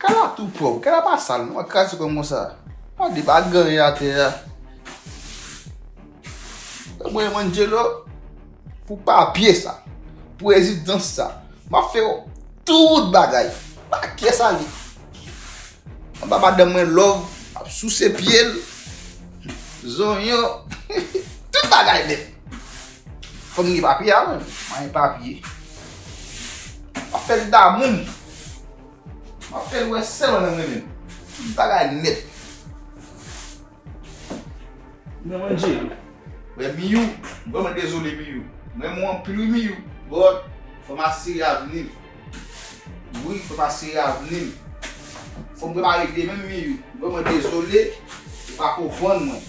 Kay la tou pwòp, kay la pa sal non, wap kraze kòm konsa. Wap di pa gen anyen atè a. Mwen mwen mwen dje lò, pou papye sa, pou ezidans sa, ma fè yo tout bagay. Pa kè sa li. Mwen pa madan mwen lòv, ap sou se pye l, zonyon, tout bagay li. Fò m gen papye a menm. Mwen gen papye. M ap fè l damou m. M ap fè l wè sèl mwen menm m renmen l. Tout bagay nèt. Mwen mwen Jerry. Mwen Miyou. M vrèman dezole Miyou. M renmen w anpil wi Miyou. But, fò m asire avni m. Wi, fò m asire avni m. Fò m prepare demen m Miyou. M vrèman dezole. Ou pa konprann mwen.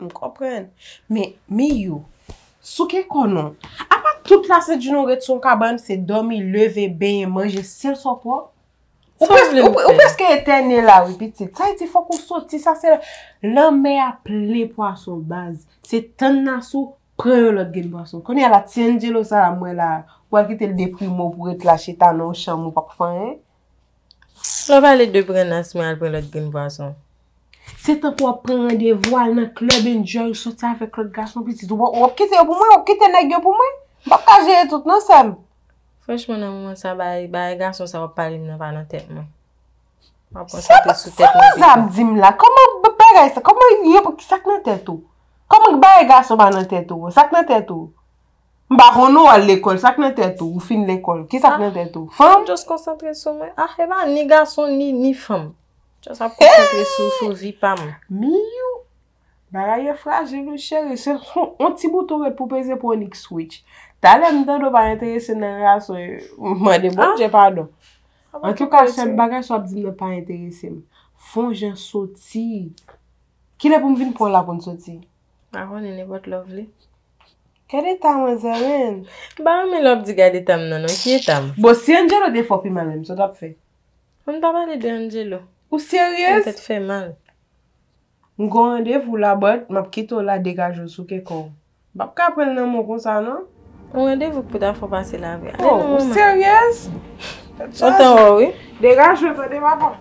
M konprann. Men, Miyou, souke kò nou. Apa tout la se di nou ret sou yon kabann, se dòmi, leve, benyen, manje, sèl sa w pwòp. Sa w vle nou fè? Ou prèske etène la wi pitit. Sa vle di fòk ou soti, sa se. Lanmè a plen pwason baz. Se tann Nasou pran yon lòt grenn pwason. Kounye a la ti Anjelo sa a m wè la a, ou pral kite l deprime w pou w ret la chita nan yon chanm ou pa p fè anyen? Mwen pale de pran nas mwen al pran lòt grenn pwason. Se tankou wap pran randevou al nan club enjoy soti avèk lòt gason pitit ou bon ou ap kite yo pou mwen ou ap kite nèg yo pou mwen m pap ka jere tout non sèm. Franchman nan moman sa bagay bagay gason sa wap pale m nan pa nan tèt mwen map konsantre sou tèt mwen pito. Sa manzè ap dim la kòman bagay sa kòman yo sak nan tèt ou kòman bagay gason pa nan tèt ou sak nan tèt ou M pa konn ou al lekòl, sa k nan tèt ou? Ou fin lekòl, ki sa k nan tèt ou? Fanm? M just konsantre sou mwen. Ah, e pa ni gason ni, ni fanm. M just ap konsantre sou, sou vi pa m. Miyou! Bagay yo frajil wi cheri, se yon ti bouton ret pou peze pou yon nik switch. Talè m tande w pa enterese nan gason yo, m mande bon Dye padon. Antouka sèl bagay sa w ap di m nan pa enterese m. Fon jan soti. Kilè pou m vin pran w la pou n soti? M pa konnen nenpòt lè w vle. Gad eta mwen zanmim. M pa renmen lè wap di gad etam nan non ki etam. Bon si Angelo te fè w pi mal menm sa w tap fè? Ann pa pale de Angelo. Ou seryez? Fè tèt fè mal. M gon randevou la but map kite w la degaje w sou ke kò w. M pap ka pranl nan men w konsa non. Yon randevou k pou ta fè w pase la vre. Ale nan manman. Ou seryez? Ou tanrò wi. Degaje w tande papa.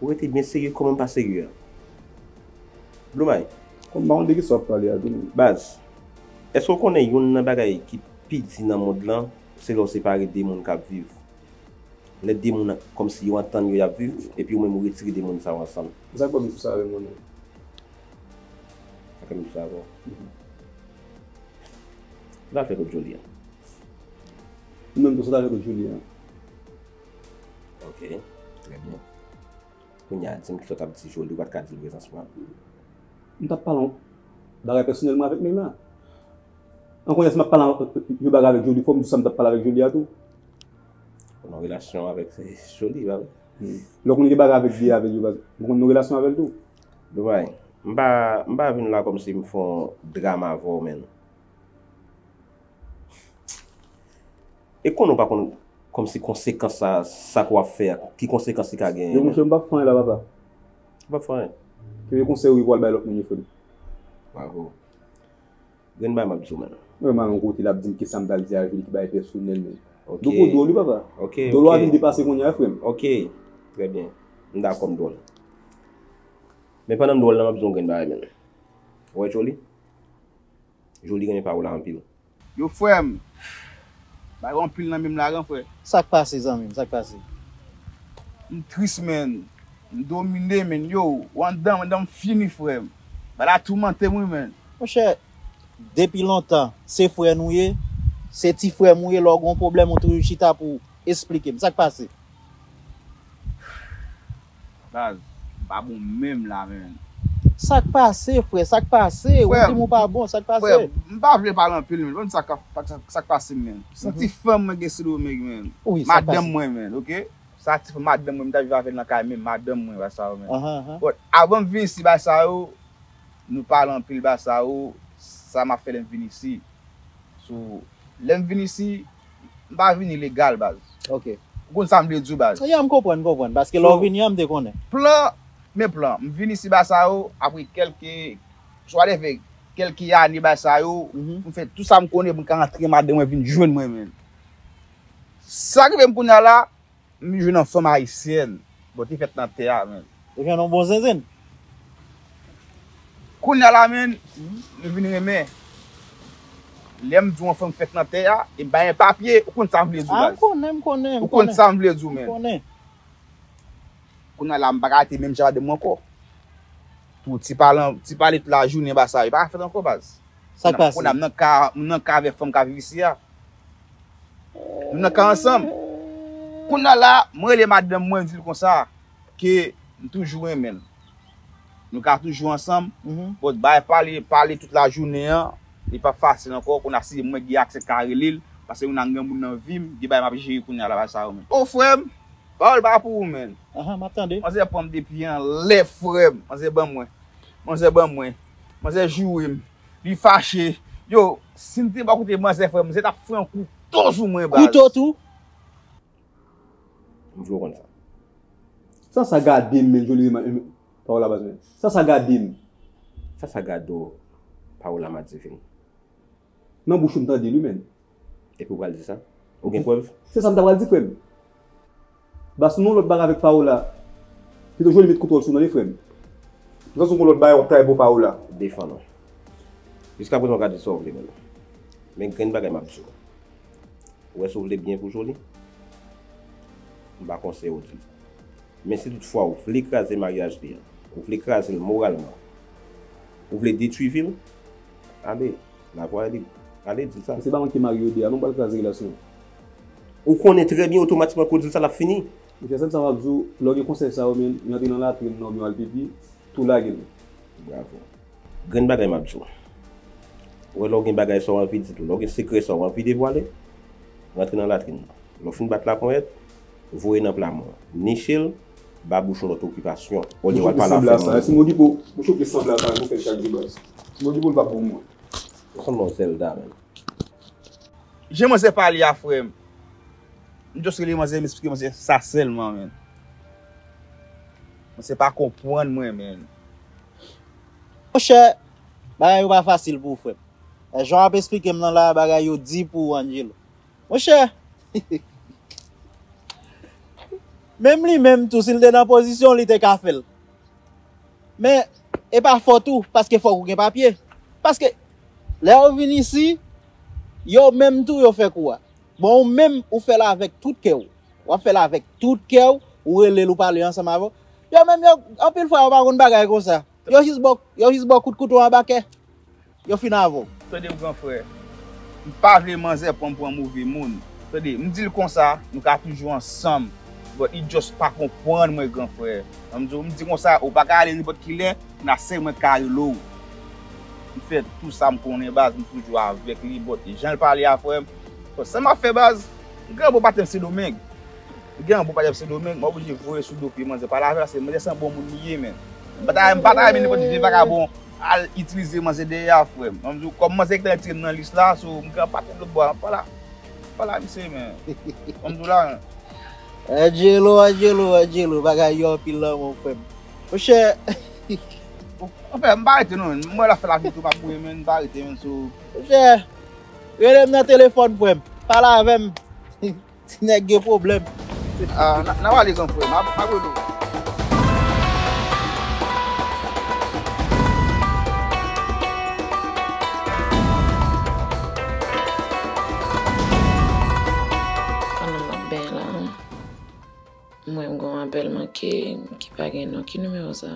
Ou rete byen serye kòman pa serye a Blue Mike? Konn pa konn de kisa wap pale a tou. Baz, èske w konnen youn nan bagay ki pi di nan mond lan se lè w separe de moun k ap viv? Lè de moun kòmsi yo antann yo y ap viv epi ou menm ou retire de moun sa yo ansanm. Men sa k fè m di sa avè mwen menm. Sa k fè m di sa avè w. Sa w ta fè kot Joly an? Ou menm tou sa w ta fè kot Joly an? Ok, trè byen. Kounye a, di m ki sa w t ap di Joly, ou pa t ka di l prezans mwen? M t ap pale yon bagay pèsonèlman avèk Meyna. An kounye a, si m ap pale yon bagay avèk Joly, fò m di sa m t ap pale avèk Joly a tou. Ou nan relasyon avèk Joly, pa vre? Lè w konn gen bagay avèk Bea, vle di ou konn nan relasyon avè l tou? Doumay, m pa vin la kòmsi m fè yon dram avè w menn. E konnen w pa konn kòmsi konsekans sa sa ke w ap fè a, ki konsekans li ka genyen. Yo monchè m pap fè anyen la papa. Ou pap fè anyen? Se vye konsèy wi pou w al bay lòt moun yo frè m. Bravo. Grenn bagay m ap di w menn. Mwen m al yon kote l ap di m ki sa m pral di a vil ki bagay pèsonèl menn. Ok. Dlo pou dwòl wi papa. Ok, ok. Dolo a vin depase kounye a frè m. Ok. Trè byen. M dakò m dwòl. Men pandan m dwòl la m ap di w yon grenn bagay menn. Ou wè Joly? Joly renmen paola anpil. Yo frèm Bay ou anpil nan menm la gran frè. Sak pase zanmim sak pase. M tris menn m domine menn yo ou andanm andanm fini frèm bay la toumantem wi menn. Monchè depi lontan se frè nou ye se ti frèm ou ye lè ou gon pwoblèm ou toujou chita pou esplikem sak pase. Baz, m pa bon menm la menn. Sak pase frè, sak pase, ou dim ou pa bon, sak pase? Frè, m pa vle pale anpil menn, banm di sak pase menn. San ti fanm mwen gen Sendomeng menn, madanm mwen menn, ok. Sa ti fanm madanm mwen, m ta viv avè l nan kay menm, madanm mwen, bagay sa yo menn. Bon, avan m vin isi bagay sa yo, nou pale anpil bagay sa yo, sa m ap fè lè m vin isi. So, lè m vin isi, M pa vini legal baz. Ok. Ou konn sa m vle di w baz. Ya m konprann, m konprann. Paske lè w vini an m te konnen. Plan, men plan. M vini ici ba sa yo apre kelke Swa de fè kelke ane ba sa yo pou m fè tou sa m konnen pou m ka rantre madan mwen vin jwenn mwen menm. Sa rive m kounya la. M jwenn yon fanm ayisyèn. Bon te fèt nan tè a menn. Ou jwenn yon bon zenzenn. Kounya la menn m vin renmen. Lè m di w yon fanm fèt nan tè a e m bay yon papye ou konn sa m vle di w baz. A m konnen m konnen m konnen. Ou konn sa m vle di w menn. M konnen. Kounya la m pa ka rete menm jaden m ankò. Pou ti pale ti pale tout lajounen ba sa yo pa ka fèt ankò baz. Sa k pase? Kona m nan ka, m nan ka avèk fanm k ap viv isi a. Nou nan ka ansanm. Kona la, mwen rele madanm mwen, m di l konsa, ke m toujou renmen l. Nou ka toujou ansanm, but bay pale, pale tout lajounen an, li p ap fasil ankò. Kona si mwen gen aksè ka rele l, paske kona m gen moun nan vi m, gen bagay m ap jere kona la, pa sa yo menm. O frè m, pawòl pa pou ou menn. Aha, m ap tande. Manzè pran m depi anlè frè m. Manzè ban mwen. Manzè ban mwen. Manzè joure m Li fache Yo si m te bò kote manzè frè m Manzè tap fran kou to sou mwen baz. Kouto tou? M vle w konn sa. Sasa gade m men Joly Rema em Paola baz mwen Sasa gade m. Sasa gade w Paola madivin. Nan bouch ou m tande l wi menn. Epi ou pral di sa? Ou gen prèv? Se sa m ta pral di frè m. Ba sou nou lòt bagay avèk Paola. Pito Joly met kontwòl sou nan li frè m. Pito sou nou lòt bagay w ap travay pou Paola. Defann ou. Jiska prezan w ka di sa w vle menm. Men grenn bagay m ap di w. Ou wè si w vle byen pou Joly? M pa konseye w di l. Men si tout fwa w vle kraze maryaj li an, ou vle kraze l moralman, ou vle detwi vi l, Ale la voix est libre Ale di sa. Se pa mwen ki marye yo 2 a non pral kraze relasyon an. Ou konnen trè byen otomatikman ke w di l sa l ap fini. Monchè sèm sa m ap di w lè w gen konsèy sa yo men yo antre nan latrin nan oubyen yo al pipi tou lage l. Bravo. Grenn bagay m ap di w. Ou wè lè w gen bagay sa w anvi di tou lè w gen sekrè sa w anvi devwale rantre nan latrin nan lè w fin bat laponyèt voye nan plamò niche l. Ba bouch yon lòt okipasyon olye wal pale afè moun. Ti modibo ou choke san blague ou fè chak jou baz. Ti modibo li pap bon moun. Ou sanble yon zelda menn. Jan manzè pale a frèm. M just rele manzè m esplike manzè sa sèlman menn. Manzè pa konpwann mwen menn. Monchè bagay yo pa fasil pou ou frèm. Jan wap esplikem nan la bagay yo di pou ou Angelo. Monchè! Menm li menm tou si l te nan pozisyon w li te ka fè l. Men, e pa fòt ou paske fòk ou gen papye. Paske, lè yo vin isi, yo menm tou yo fè kou a. Bon ou menm ou fè l avèk tout kè w. W ap fè l avèk tout kè w, ou rele l ou pale ansanm avè l. Yo menm yo, anpil fwa yo pa konn bagay konsa. Yo jis ba w, yo jis ba w kout kouto anba kè. Yo fin avè w. Tande m gran frè. M pa vle manzè pran m pou yon move moun. Tande, m di l konsa, nou ka toujou ansanm. But li just pa konprann mwen gran frè. M di w, m di konsa, ou pa ka ale nenpòt ki lè, m la sèl mwen k ka rele w. M fè tou sa m konnen baz, m toujou avèk li but jan l pale a frè m, but sa m ap fè baz? M gen yon bon patnè Sendomeng. M gen yon bon patnè Sendomeng, m oblije voye sou do pye manzè pale avè l, paske manzè san bon moun li ye menn. M pa ta renmen nenpòt vye vagabon Al itilize manzè dèyè a frèm. An m di w kòm manzè ki ta retire m nan lis la so m gen anpati dlo bwa an pa la pa la mesye men an m di w la an. Angelo Angelo Angelo bagay yo anpil lanmou frèm monchè hihih. Anfen m pa rete non menn m wè lap fè lavi l tou pa bouyi menn m pa rete menn so. Monchè relem nan telefòn frèm pale avèm. Ti nèg gen pwoblèm. Ahh nap ale zanfre m ap rele w. Pandan map benyen la m wè m gen yon apèl manke ki pa gen non ki nimewo sa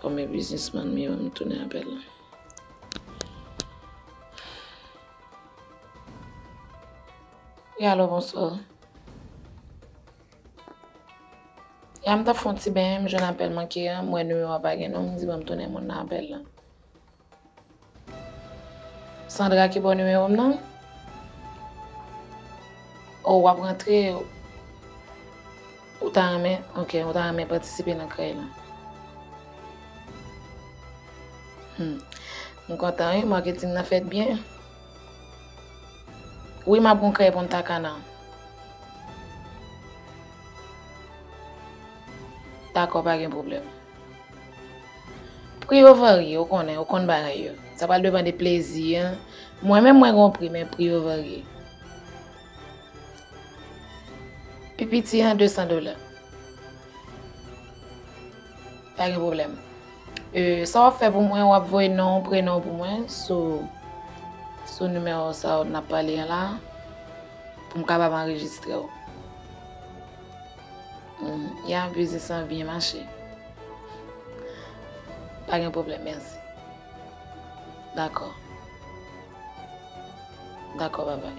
kòm e biznisman m ye m tounen apèl la. E alò bonswa. Ya m tap fon ti benyen m jwenn apèl manke an, m wè nimewo a pa gen non, m di banm tounen moun nan apèl la. Sandra ki baw nimewo m nan? O wap rantre, ou ta renmen, ok, ou ta renmen patisipe nan krèy lan. Humm m kontan wi marketing nan fèt byen. Wi map gon krèy punta cana. Dakò pa gen pwoblèm. Pri yo varye ou konnen ou konn bagay yo. Sa pral depan de plezi an. Mwen menm mwen gon pri men pri yo varye. Pi piti an 200 dola. Pa gen pwoblèm. Sa wap fè pou mwen wap voye non ou prenon ou pou mwen sou sou nimewo sa ou nap pale an la pou m kapab anrejistre ou. Ya biznis lan byen mache. Pa gen pwoblèm mèsi. Dakò. Dakò babay.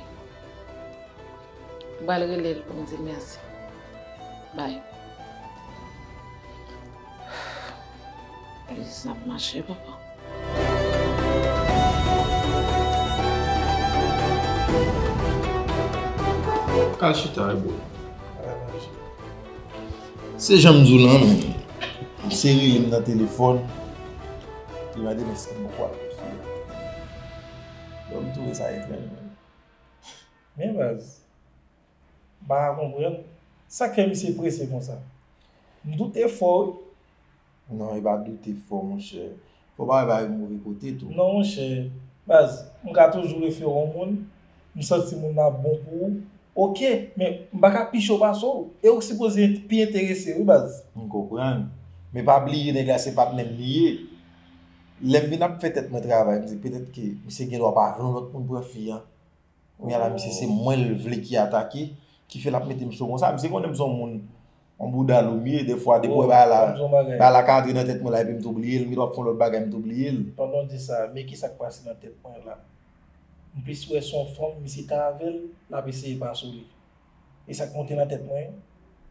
M pral rele l pou m di l mèsi. Bay. Polis nan ap mache papa. Al chita e boo. Se jan m di w lan men, m se rele m nan telefòn, li mande m eske m poko al kote li. Donk m twouve sa etranj menm. Men baz, M pa ka konprann. Sa kè misye prese konsa? M doute fò wi. Non, e pa doute fò monchè. Fò pa wè bagay gen move kote tou. Non monchè. Baz, m ka toujou refere w moun. M santi moun nan ap bon pou ou. Ok, men m pa ka pi cho pase w. E ou k sipoze pi enterese wi baz. M konprann. Men pa bliye nèg la se patnè m li ye. Lè m vin ap fè tèt mwen travay, m di petèt ke misye gen dwa pa vle yon lòt moun pran fi an. Kounya la misye se mwen l vle ki atake ki fè l ap mete m so konsa. Misye konnen m son moun on bouda lou m ye defwa depi wè bagay la bagay la ka antre nan tèt mwen la epi m tou bliye l m gen dwa ap fè on lòt bagay m tou bliye l. Pandan w di sa men kisa k pase nan tèt mwen la m plis wè son fanm misye ta avè l l ap eseye pa sou li e sa k monte nan tèt mwen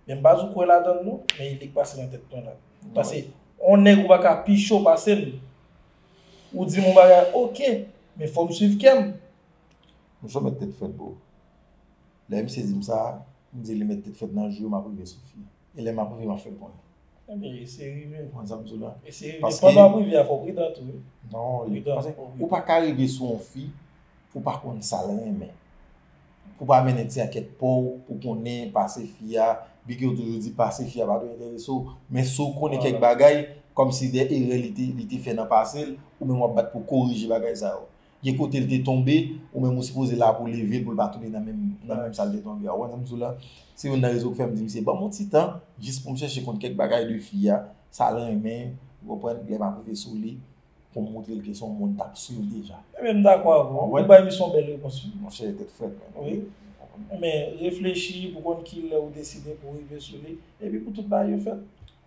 men m pa jou kwè ladan l non men e li k pase nan tèt mwen la pase on nèg ou pa ka pi cho pase m ou di m on bagay ok men fò m swiv kè m Nou sou mèt tèt frèt boo. Lè misye dim sa, m di li mèt tèt frèt nan jou yo map rive sou fi. E lè map rive map fèl konnen. Ebyen eseye rive. Ou konn sam diw la. Eseye rive. Pandan wap rive a fòw pridan tou wi. Non li. Paske ou paka rive sou yon fi pou pa konn sal renmen. Pou pa mennen ti ankèt paw pou konnen pase fi a. Byen ke yo toujou di pase fi a pa dwe enterese w. Men si w konnen kèk bagay, kòmsi de erè li te fè nan pase l, ou menm wap bat pou korije bagay sa yo. gen kote l te tonbe, ou menm ou sipoze la pou leve l pou l pa tonbe nan menm sa l te tonbe a. Ou konprann sa m di w la? Se youn nan rezon ki fè m di misye ban m yon ti tan jis pou m chèche konn kèk bagay de fi a, sa l renmen, ou konprann, lè m ap rive sou li pou m montre l ke se yon moun m t ap swiv deja. Ebyen m dakò avè w. Ou bay misye yon bèl repons wi. Monchè, tèt frèt mwen. Wi. Men, reflechi pou konn ki lè ou deside pou w rive sou li. Epi pou tout bagay yo fèt.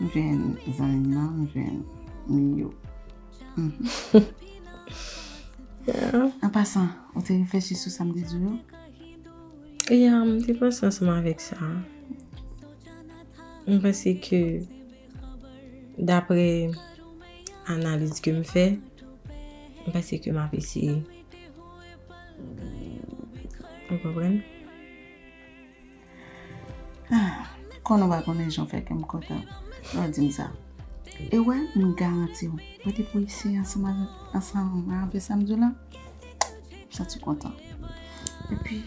M jwenn zanmi nan, m jwenn Miyou. An pasan, ou te reflechi sou sa m te di w yo? Ya, m te panse ansanm avèk sa. M panse ke dapre analiz ke m fè, m panse ke m ap eseye. Ou konprann? Ah, kon nou pa konnen jan w fè kè m kontan lè w di m sa. E wè, m garanti w, wè depi w isi ansanm avèk, ansanm avè sa m di w la, m santi w kontan. Epi,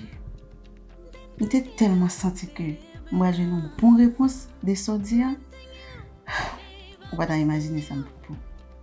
m te tèlman santi ke m pral jwenn yon bon repons de sa w di a, ou pa ta imajine sa m fè pou ou.